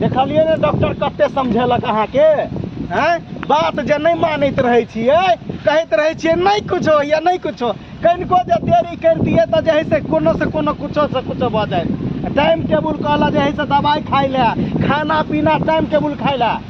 देखलियै ने डॉक्टर कते समझेलक अहाँके हैं बात जे नहीं मानैत रहे छियै कहैत रहे छियै नहीं कुछ हो या नहीं कुछ हो कनिको जे देरी करतियै तऽ जे है से कोनो से कोनो कुछो से कुछो भऽ जाए टाइम टेबुल कहला जे है से दवाई खाइ लए खाना पीना टाइम टेबुल खाइ लए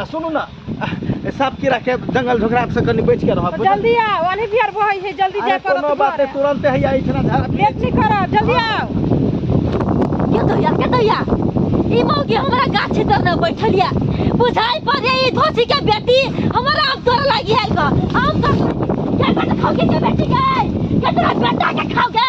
आ सुनू ना सब कीड़ा के जंगल झोकरा से कनी बच के रहब जल्दी आओ अली बिहार बहै छै जल्दी अरे जाय कोनो पड़त बात नहीं तुरंत है या इतना झाड़ा लेट नहीं करो जल्दी आओ के दैया के दैया ई मौगी हमरा गाछे तर न बैठलिया बुझाई पड़े ई धोसी के बेटी हमरा आम तोड़ लागी है क आम तोड़ लागी के बेटा खाओगे के बेटी गए के तोरा बेटा के खाओगे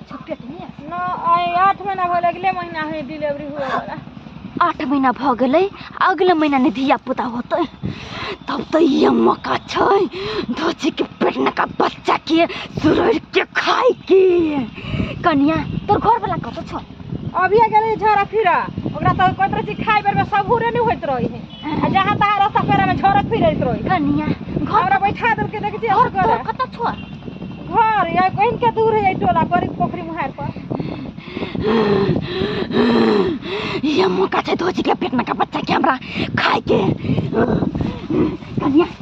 छोटे के लिए न आए आठ महीना भर अगले महीना है डिलीवरी हुआ वाला आठ महीना भ गेलै अगले महीना ने धिया पुता होतै तब तऽ ये मौका छै धोची के पेट नका बच्चा के सुरैर के खाय के कनिया तोर घर वाला कतऽ छौ अभी गेलै झरा फिरा ओकरा तऽ कहैत रहै छी खाइ बेरमे सबूरे नहि होइत रहै है आ जहाँ तहाँ रस्ता पेरा में झरक फिरैत रही कनिया घर हमरा बैठा देलकै देख जे घर कर कतऽ छो घर या कहीं के दूर है टोला पर पोखरी मुहार पर ये मौका छै धोजी के पेट में का बच्चा के हमरा खाए के कनिया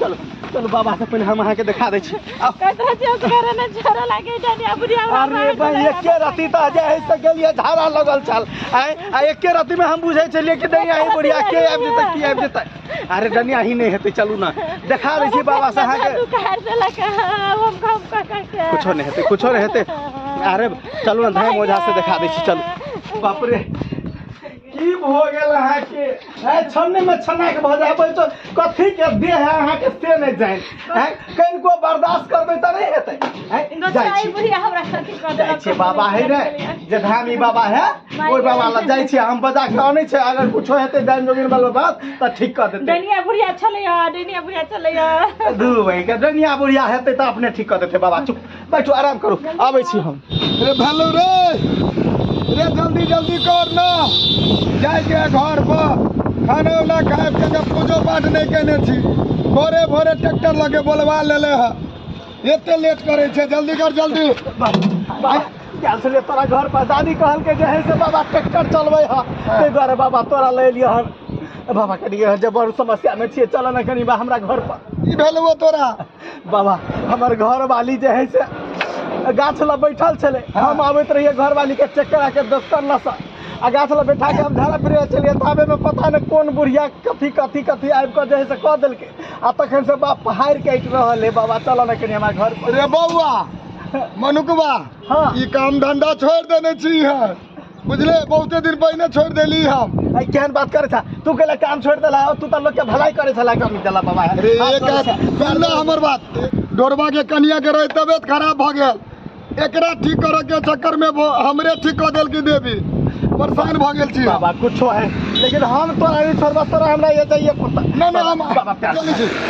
चलू चलू बाबा से पहिले हम अहाँके देखा दै छी आउ। कतरा चेस करे ने छोरा लागे जानी अपनी आवाज अरे भाई एके रति त जे है से गेलिए धारा लगल छल आय आ एके रति में हम बुझै छलिए कि डनिया ही बुढ़िया के आबि जेतै की आबि जेतै अरे डनिया ही नहीं हेतै चलू ना देखा दै छी बाबा से अहाँके दुकान से लगा हम काम कर करके कुछो नहीं हेतै कुछो नहीं हेतै अरे चलू ना धाम ओझा से देखा दै छी चलू बाप रे की भऽ गेल अहाँके है छन्ने में छन्ना के भऽ जाबै तो कथी के देह है अहाँके से नहि जाय है कनिको बर्दाश्त करबै तऽ नहि हेतै है जाइ नचाई छी बुढ़िया हमरा कथी कऽ जाइ देलक छियै बाबा है ने जे धामी बाबा है ओहि बाबा लग जाइ छियै हम बजा के अनै छै अगर कुछो हेतै डाइन जोगिन वाला बात तऽ ठीक कऽ देतै डनिया बुढ़िया छलैया डनिया बुढ़िया छलैया दू भाई के डनिया बुढ़िया हेतै तऽ अपने ठीक कऽ देतै बाबा चुप बैठो आराम करो आबै छी हम रे भालू रे रे जल्दी जल्दी कर ना जाय के घर पर खाना उना खाए के जब पूजो पाठ नहीं केने छी भोरे भोरे ट्रैक्टर लगे बोलवा लेले ह एते लेट करे छे जल्दी कर जल्दी क्या से तोरा घर पर दादी कहल के जे है से बाबा ट्रैक्टर चलबै ह ताहि दुआरे बाबा तोरा ले लिअ हन बाबा कनि जे बड़ समस्या में छियै चलऽ ने कनि बा हमरा घर पर ई भेलौ तोरा बाबा हमर घरवाली जे है से गाछ लग बैठल छले हम आबैत रहिए घरवाली के चेक करा के दोस्तर लसा आ गाछ लग बैठा के हम झाड़ा फिरे चलिए ताबे में पता नहीं कोन बुढ़िया कथी कथी कथी आबि के जे है से कह देलके आ तखन से बाप पहाड़ के अटि रहल है बाबा चल ने कनी हमरा घर पर रे बौआ मनुकबा हाँ। ई काम धंधा छोड़ देने छी है बुझले बहुते दिन पहले छोड़ देली हम आई केहन बात करे था तू कहला काम छोड़ देला और तू तो लोग के भलाई करे छला कमी देला बाबा अरे एक बात सुन ना हमर बात डोरबा के कनिया के रहे तबियत खराब भ गेल एकरा ठीक करे के चक्कर में वो हमरे ठीक कर देल की देवी परेशान भ गेल छी बाबा कुछो है लेकिन हम तो नहीं छोड़बा तोरा हमरा ये चाहिए कुत्ता ना ना हम बाबा प्यार चली छी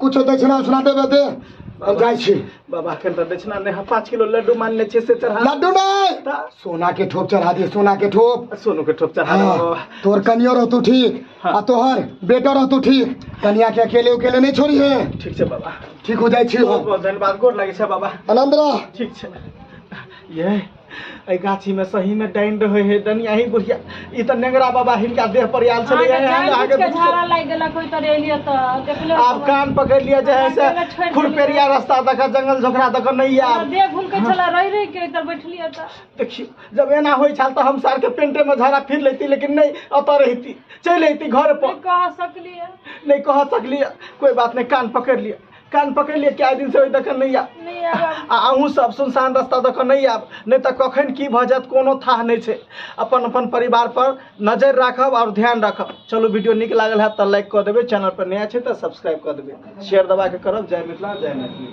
कुछो दक्षिणा उछिना देबे दे हम जाइ छी बाबा अखन तऽ दक्षिणा नहि हम पाँच किलो लड्डू मान लै छियै से चढ़ा लड्डू नहि तऽ सोना के ठोप चढ़ा दिए सोना के ठोप सोनू के ठोप चढ़ा देबो हाँ, तोर कनियो रहतू ठीक हाँ। आ तोहर बेटो रहतू ठीक कनिया के अकेले उकेले नहीं छोड़ी है ठीक छै बाबा ठीक हो जाइ छी बहुत हम बहुत धन्यवाद गोर लागै छै बाबा आनंद रह ठीक छै ये एहि गाछी में सही में डाइन रहे है डनी अही बुढ़िया ई त नेंगरा बाबा हिनका देह पर आयल छले अहाँके जान बुझ के अहाँके झाड़ा लागि गेला कोइ तर एलियै तऽ देखले आब कान पकड़ लिया जे है से अहाँके छोड़ि खुरपेरिया रास्ता दक जंगल झोकरा दक नहीं हमरा आब देह घुमके छला रहि रहि के तर बैठलियै तऽ देखियो जब एना होई छल त हम सार के पेंटे में झाड़ा फिर लेती लेकिन नहीं अत रहती चल अती घर पर नहि कह सकलियै नहीं कह सकलिए कोई बात नहीं कान पकड़ लिया कान पकड़ि लिअ कए दिनसँ ओहि दऽ कऽ नहि आयब नहीं आब हम- आ अहूँ सब सुनसान रास्ता दऽ कऽ नहि आयब नहि तऽ कखन की भऽ जायत कोनो थाह नहि छै अपन अपन परिवार पर नजर राखब आओर ध्यान राखब चलू वीडियो नीक लागल है तऽ लाइक कऽ देबै चैनल पर नया छै तऽ सब्सक्राइब कऽ देबै शेयर दबा कऽ करब जय मिथिला जय मैथिली